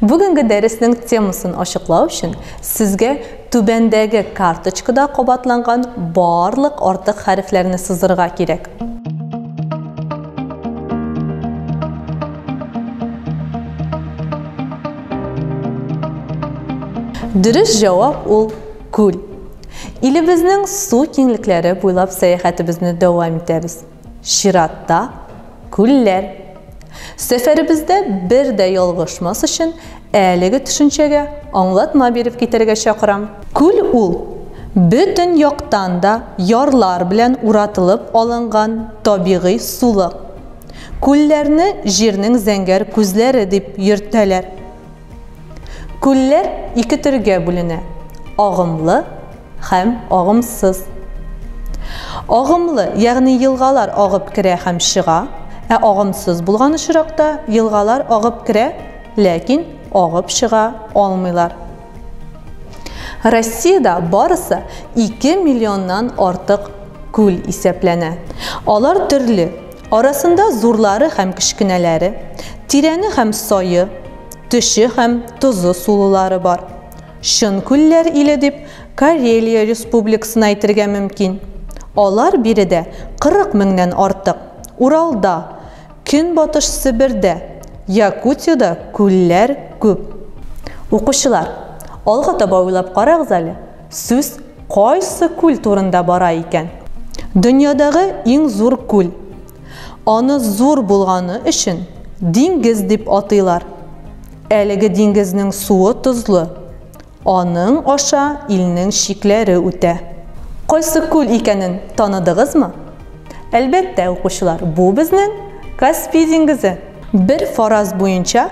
Бүгенге дәреснең темасын ачыклау өчен сезгә түбәндәге карточкада кабатланган барлык артык хәрефләрне сызырга кирәк. Дөрес җавап ул күл. Илебезнең су киңлекләре буйлап сәяхәтебезне дәвам итәбез. Чиратта, күлләр. Сәфәребездә бер дә ялгышмас өчен, әлеге төшенчәгә аңлатма биреп китәргә чакырам. Күл ул, бөтен яктан да ярлар белән уратылып алынган табигый сулык. Күлләрне җирнең зәңгәр күзләре дип йөртәләр. Күлләр ике төргә бүленә, агымлы һәм агымсыз. Агымлы, ягъни елгалар агып керә һәм чыга, ә агымсыз булган очракта елгалар агып керә, ләкин агып чыга алмыйлар. Россиядә барысы 2 миллионнан артык күл исәпләнә. Алар төрле, Арасында зурлары һәм кечкенәләре, тирәне һәм сае, төче һәм тозы сулылары бар. Чын күлләр иле дип Карелия республикасын әйтергә мөмкин. Алар биредә 40 меңнән артык. Уралда, Көнбатыш Себердә, Якутиядә күлләр күп. Укучылар, алга таба уйлап карагыз әле. Сүз кайсы күл турында бара икән? Дөньядагы иң зур күл. Аны зур булганы өчен диңгез дип атыйлар. Әлеге диңгезнең суы тозлы. Аның аша илнең чикләре үтә. Кайсы күл икәнен таныдыгызмы? Әлбәттә, укучылар, бу безнең Каспий диңгезе. Бер фараз буенча,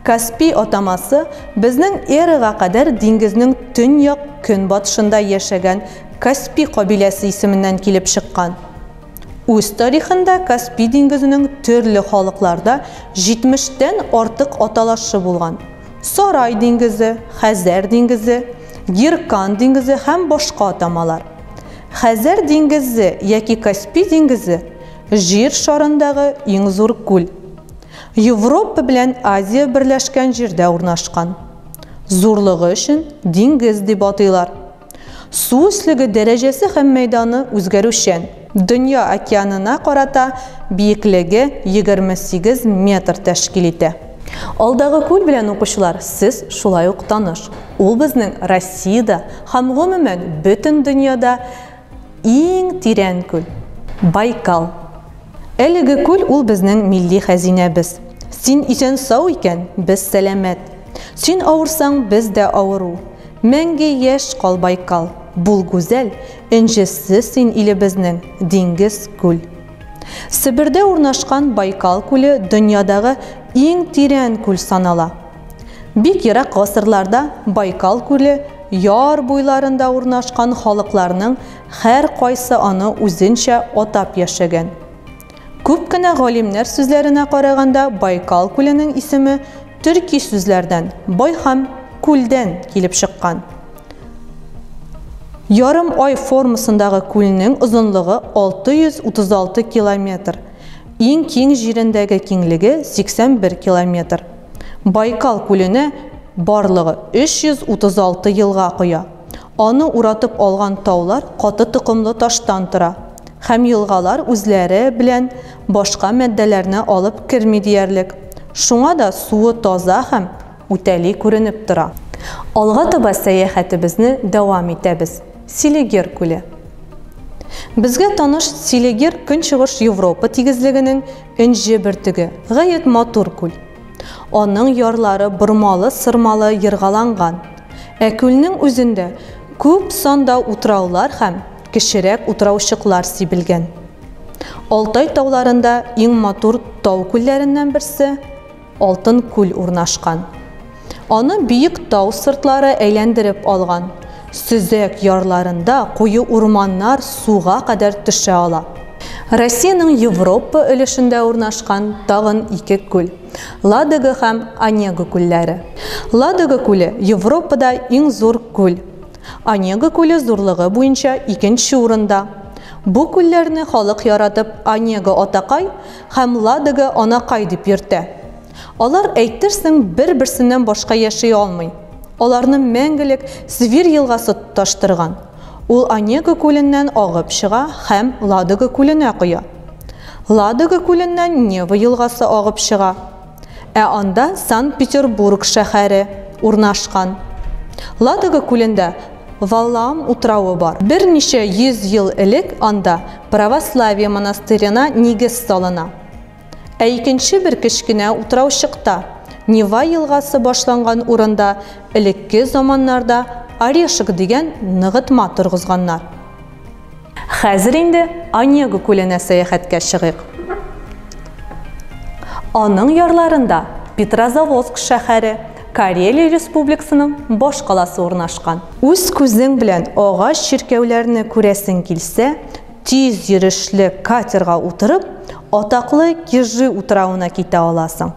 Каспий атамасы безнең эрага кадәр диңгезнең төньяк көнбатышында яшәгән Каспи кабиләсе исеменнән килеп чыккан. Үз тарихында Каспи диңгезенең төрле халыкларда җитмештән артык аталашы булган, Сарай диңгезе, Хәзәр диңгезе, Гиркан диңгезе һәм башка атамалар. Хәзәр диңгезе яки Каспи диңгезе, Җир шарындагы иң зур күл. Европа белән Азия берләшкән җирдә урнашкан. Зурлыгы өчен диңгез дип атыйлар. Су өслеге дәрәҗәсе һәм мәйданы үзгәрүчән. Дөнья океанына карата биеклеге 28 метр тәшкил итә. Алдагы күл белән укучылар сез шулай ук таныш. Ул безнең Россиядә һәм гомумән бөтен дөньяда Иң тирән күл, Байкал. Әлеге күл ул безнең милли хәзинәбез. Син исән-сау икән, без сәламәт. Син авырсаң, без дә авыру. Мәңге яшь кал, Байкал, бул гүзәл, энҗесе син илебезнең, диңгез, күл. Себердә урнашкан Байкал күле дөньядагы иң тирән күл санала. Бик ерак гасырларда Байкал күле яр буйларында урнашкан халыкларның һәркайсы аны үзенчә атап яшәгән. Күп кенә галимнәр сүзләренә караганда Байкал күленең исеме төрки сүзләрдән, бай һәм күлдән килеп чыккан. Ярым ай формасындагы күлнең озынлыгы 636 километр, иң киң җирендәге киңлеге 81 километр. Байкал күлене барлыгы 336 елга коя. Аны уратып алган таулар каты токымлы таштан тора. Һәм елгалар үзләре белән башка матдәләрне алып керми диярлек. Шуңа да суы таза һәм үтәли күренеп тора. Алга таба сәяхәтебезне дәвам итәбез. Селигер күле. Безгә таныш Селигер Көнчыгыш Европа тигезлегенең Энҗе бөртеге, гаять матур күл. Аның ярлары бормалы-сырмалы ергаланган. Ә күлнең үзендә күп санда утраулар һәм кечерәк утраучыклар сибелгән. Алтай тауларында иң матур тау күлләреннән берсе. Алтын күл урнашкан. Аны биек тау сыртлары әйләндереп алган. Сөзәк ярларында куе урманнар суга кадәр төшә ала. Россиянең Европа өлешендә урнашкан тагын ике күл, Ладога һәм Онега күлләре. Ладога күле, Европада иң зур күл. Онега күле зурлыгы буенча икенче урында. Бу күлләрне халык яратып Онега атакай, Һәм Ладога анакай дип йөртә. Алар, әйтерсең, бер-берсеннән башка яши алмый. Аларны мәңгелек Свир елгасы тоташтырган. Ул Онего күленнән агып чыга һәм Ладога күленә коя. Ладога күленнән Нева елгасы агып чыга. Ә анда Санкт-Петербург шәһәре урнашкан. Ладога күлендә Валаам утравы бар. Берничә йөз ел элек анда православие монастырена нигез салына. Ә икенче бер кечкенә утраучыкта, Нева елгасы башланган урында элекке заманнарда Орешек дигән ныгытма торгызганнар. Хәзер инде Онегу күленә сәяхәткә чыгыйк. Аның ярларында Петрозаводск шәһәре, Карелия республикасының баш каласы урнашкан. Үз күзең белән агач чиркәүләрне күрәсең килсә, тиз йөрешле катерга утырып, атаклы Кижи утравына китә аласың.